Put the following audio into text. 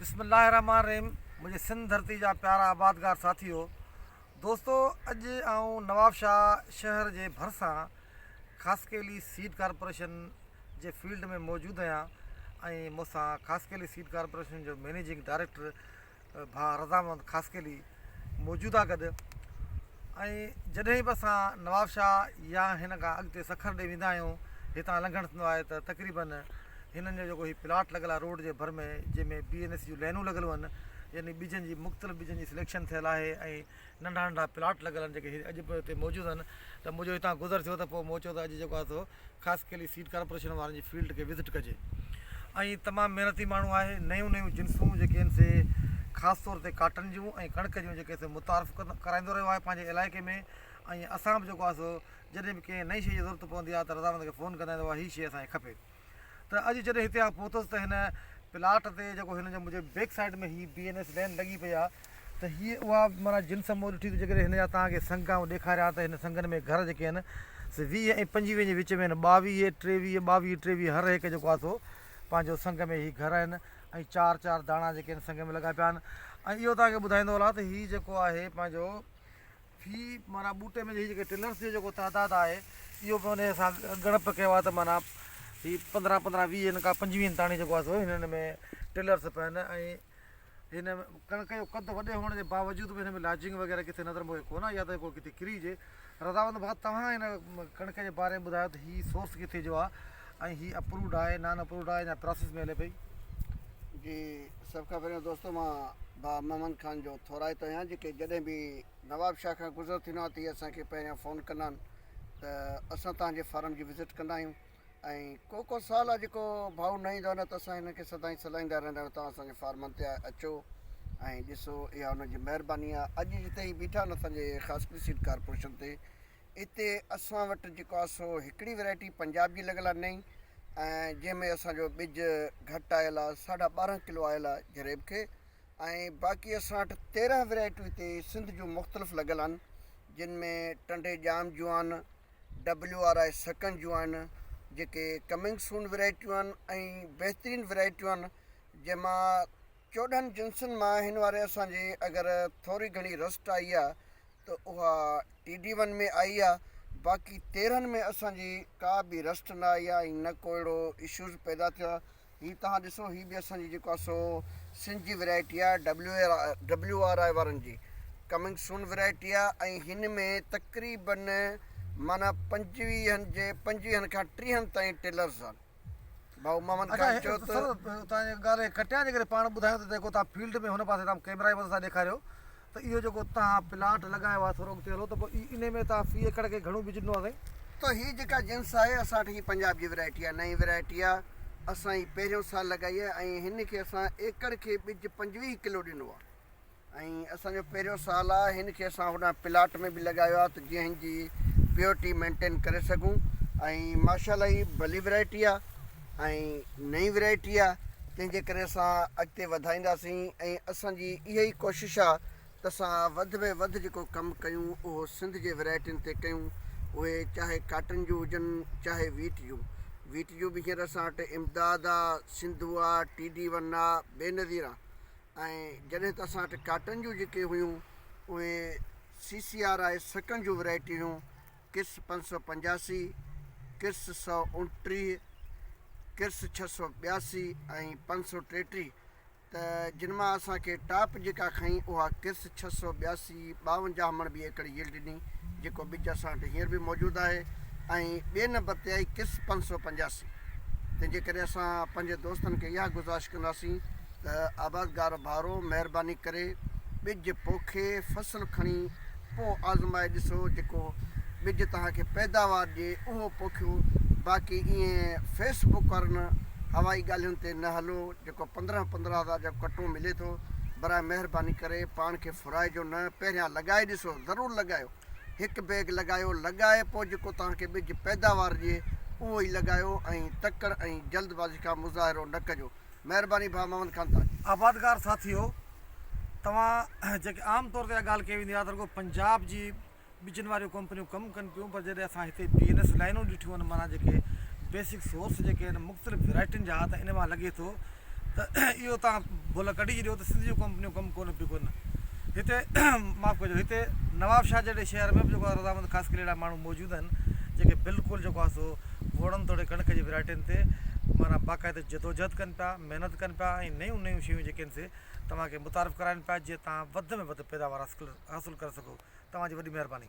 بسم الله الرحمٰن الرحيم منهنجي سنڌ ڌرتي جا پيارا آبادگار ساٿيو دوستو اڄ آئون نوابشاهه شهر جي ڀرسان خاصخيلي سيڊ ڪارپوريشن جي فيلڊ ۾ موجود آهيان ۽ مون سان خاصخيلي سيڊ ڪارپوريشن جو مينيجنگ ڊائريڪٽر ڀا رضامند خاصخيلي موجوده گڏ ۽ جڏهن به اسان نوابشاهه يا هن کان اڳتي سکر ڏي ويندا آهيون هتان لنگهڻ ٿيندو آهي ته تقريباً هنن جو جيڪو هي پلاٽ لڳل آهي روڊ جي ڀر ۾ جنهن ۾ بي اين ايس جون لينون لڳل هئن يعني ٻجن جي مختلف ٻجن جي سليڪشن ٿيل آهي ۽ ننڍا ننڍا پلاٽ لڳل آهن جيڪي اڄ به هتي موجود آهن ته منهنجو هتان گذر ٿيو ته پوء مون چيو ته اڄ جيڪو آهي سو خاص ڪيلي سيڊ ڪارپوريشن وارن جي فيلڊ کي وزٽ ڪجي ۽ تمام محنتي ماڻهو آهي نيون نيون جنسون جيڪي آهن سي خاص طور تي ڪاٽن جون ۽ ڪڻڪ جون جيڪي سي متعارف ڪرائيندو رهيو آهي پنهنجي علائقي ۾ ۽ اسان به جيڪو آهي سو جڏهن به ڪنهن نئين شيء جي ضرورت پوندي آهي ته رضامند کي فون ڪندا آهيون هي شيء اسان کي کپي ته اڄ جڏهن هتي آء پهتس ته هن پلاٽ تي جيڪو هن جي منهنجي بيڪ سائيڊ ۾ هي بي اين ايس لين لڳي پئي آهي ته هيء اها معنيٰ جنس مون ڏٺي ته جيڪڏهن هن جا توهان کي سڱ آئون ڏيکاريان ها ته هن سڱن ۾ گهر جيڪي آهن سي ويهه ۽ پنجويهن جي وچ ۾ آهن، ٻاويهه، ٽيويهه، ٻاويهه، ٽيويهه، هر هڪ جيڪو آهي سو پنهنجو سڱ ۾ هي گهر آهن ۽ چار چار داڻا جيڪي آهن سڱ ۾ لڳا پيا آهن ۽ اهو توهان کي ٻڌائيندو هلان ته هي جيڪو آهي پنهنجو في معنيٰ ٻوٽي ۾ هي جيڪي ٽلرس جو جيڪو تعداد آهي اهو به انهيء سان ڳڻپ ڪيو آهي ته معنيٰ هي پندرهن پندرهن ويهن کان پنجويهن تاڻي جيڪو آهي سو هنن ۾ ٽلرس پيا آهن ۽ هن ڪڻڪ جو قد وڏي هئڻ جي باوجود به هن ۾ لاجنگ وغيره ڪٿي نظر موهي ڪونه يا ته ڪو ڪٿي ڪري هجي. رضاوند ڀاء توهان هن ڪڻڪ جي باري ۾ ٻڌايو ته هي سورس ڪٿي جو آهي ۽ هي اپرووڊ آهي نان اپرووڊ آهي يا پراسيس ۾ هلي پئي. جي سڀ کان پهريون دوستو مان ڀاء محمد خان جو ٿورائتو آهيان جيڪي جڏهن به نواب شاهه کان گذر ٿيندو آهيان ته اهي اسان کي پهريان فون ڪندا آهن ته اسان توهان جي فارم جي وزٽ ڪندا آهيون. ۽ ڪوڪو سال آ جيڪو ڀائو نه ايندو آ نه ته اسان هنن کي سدائين سڏائيندا رهندا آهيون توهان اسان جي فارمن تي اچو ۽ ڏسو اها هنن جي مهرباني آ اڄ جتي هي بيٺا آهن اسان جي خاصخيلي سيڊ ڪارپوريشن تي اتي اسان وٽ جيڪو آ سو هڪڙي ويرائٽي پنجاب جي لڳل آ نئين ۽ جنهن ۾ اسان جو ٻج گهٽ آيل آ ساڍا ٻارهن کلو آيل آ جريب کي ۽ باقي اسان وٽ تيرهن ويرائٽيون هتي سنڌ جون مختلف لڳل آهن جن ۾ ٽنڊي ڄام جون آهن ڊبليو آر آء سڪن جون آهن جيڪي ڪمنگ سون ورائٽيون آهن ۽ بهترين ورائٽيون آهن جنهن مان چوڏهن جنسن مان هن واري اسان جي اگر ٿوري گهڻي رسٽ آئي آهي ته اها ٽي ڊي ون ۾ آئي آهي باقي تيرهن ۾ اسان جي ڪا به رسٽ نه آئي آهي ۽ نه ڪو اهڙو اشوز پيدا ٿيو آهي هي توهان ڏسو هي به اسان جي جيڪو آهي سو سنڌ جي ورائٽي آهي ڊبليو آر آء وارن جي ڪمنگ سون ورائٽي آهي ۽ هن ۾ تقريبن معنيٰ پنجويهن جي پنجويهن کان ٽيهن تائين ٽيلرز آهن ڀائو محمد خان چيو ته سر توهان جي ڳالهه ڪٽيان جي ڪري پاڻ ٻڌايو ته جيڪو توهان فيلڊ ۾ هن پاسي تام ڪيمرا جي مدد سان ڏيکاريو ته اهو جيڪو توهان پلاٽ لڳايو آهي ٿورو اڳتي هلو ته پوء انهي ۾ توهان في ايڪڙ کي گهڻو ٻج ڏنو آهي سائين؟ ته هي جيڪا جنس آهي اسان وٽ هي پنجاب جي ورائٽي آهي نئين ورائٽي آهي اسان هي پهريون سال لڳائي آهي ۽ هن کي اسان ايڪڙ کي ٻج پنجويهه ڪلو ڏنو آهي ۽ اسان جو پهريون سال آهي هن کي اسان هوڏانهن پلاٽ ۾ به لڳايو آهي ته جيئن هن جي پيورٽي مينٽين ڪري سگهون ۽ ماشاء الله هي ڀلي ورائٽي آهي. ۽ نئين ورائٽي آ تنهن جي ڪري اسان اڳتي وڌائينداسين ۽ اسان جي اها ئي ڪوشش آ ته اسان وڌ ۾ وڌ جيڪو ڪم ڪيون اهو سنڌ جي ورائٽين تي ڪيون اهي چاهي ڪاٽن جون هجن چاهي ويٽ جون ويٽ جون به هينئر اسان وٽ امداد آ سنڌو آ ٽي ڊي ون آ بي نظير آ ۽ جڏهن ته اسان وٽ ڪاٽن جون جيڪي هيون اهي سي سي آر آء سڪن جون ورائٽي هيون. ڪرس پنج سؤ پنجاسي، ڪرس سؤ اوڻٽيهه، ڪرس ڇهه سؤ ٻياسي ۽ پنج سؤ ٽيٽيهه ته جن مان اسان کي ٽاپ جيڪا کنئي اها ڪرس ڇهه سؤ ٻياسي ٻاونجاهه مڻ ٻي ايڪڙ يلڊ ڏني جيڪو ٻج اسان وٽ هينئر به موجود آهي ۽ ٻئي نمبر تي آئي ڪرس پنج سؤ پنجاسي تنهنجي ڪري اسان پنهنجي دوستن کي اها گذارش ڪنداسين ته آبادگار ڀائرو مهرباني ڪري ٻج پوکي فصل کڻي پوء آزمائي ڏسو جيڪو ٻج توهان کي پيداوار ڏي اهو پوکيو باقي ائين فيس بڪ وارن هوائي ڳالهين تي نه هلو جيڪو پندرهن پندرهن هزار جو ڪٽو ملي ٿو برائي مهرباني ڪري پاڻ کي ڦرائجو نه پهريان لڳائي ڏسو ضرور لڳايو هڪ بيگ لڳايو لڳائي پوء جيڪو توهان کي ٻج پيداوار ڏي اهو ئي لڳايو ۽ تڪڙ ۽ جلد بازي کان مظاهرو نه ڪجو مهرباني ڀاء محمد خان تاج. آبادگار ساٿيو توهان جيڪي عام طور تي اها ڳالهه ڪئي ويندي آهي ته رڳو پنجاب جي ٻجن واريون ڪمپنيون ڪم ڪن پيون پر جڏهن اسان هتي بي اين ايس لائينون ڏٺيون ان معنيٰ جيڪي بيسڪ سورس جيڪي آهن مختلف ويرائٽين جا ته ان مان لڳي ٿو ته اهو توهان ڀل ڪڍي ڇڏيو ته سنڌ جون ڪمپنيون ڪم ڪون پيون ڪن هتي معاف ڪجو هتي نواب شاهه جهڙي شهر ۾ به جيڪو آهي رضامند خاص قلعي اهڙا ماڻهو موجود آهن جيڪي بلڪل جيڪو آهي سو گهوڙن توڙي ڪڻڪ جي ويرائٽين تي معنيٰ باقاعده جدوجهد ڪن پيا، محنت ڪن پيا ۽ نيون نيون شيون جيڪي آهن سي توهان کي متعارف ڪرائين پيا جيئن توهان وڌ ۾ وڌ پيداوار حاصل ڪري سگهو. توهان جي وڏي مهرباني.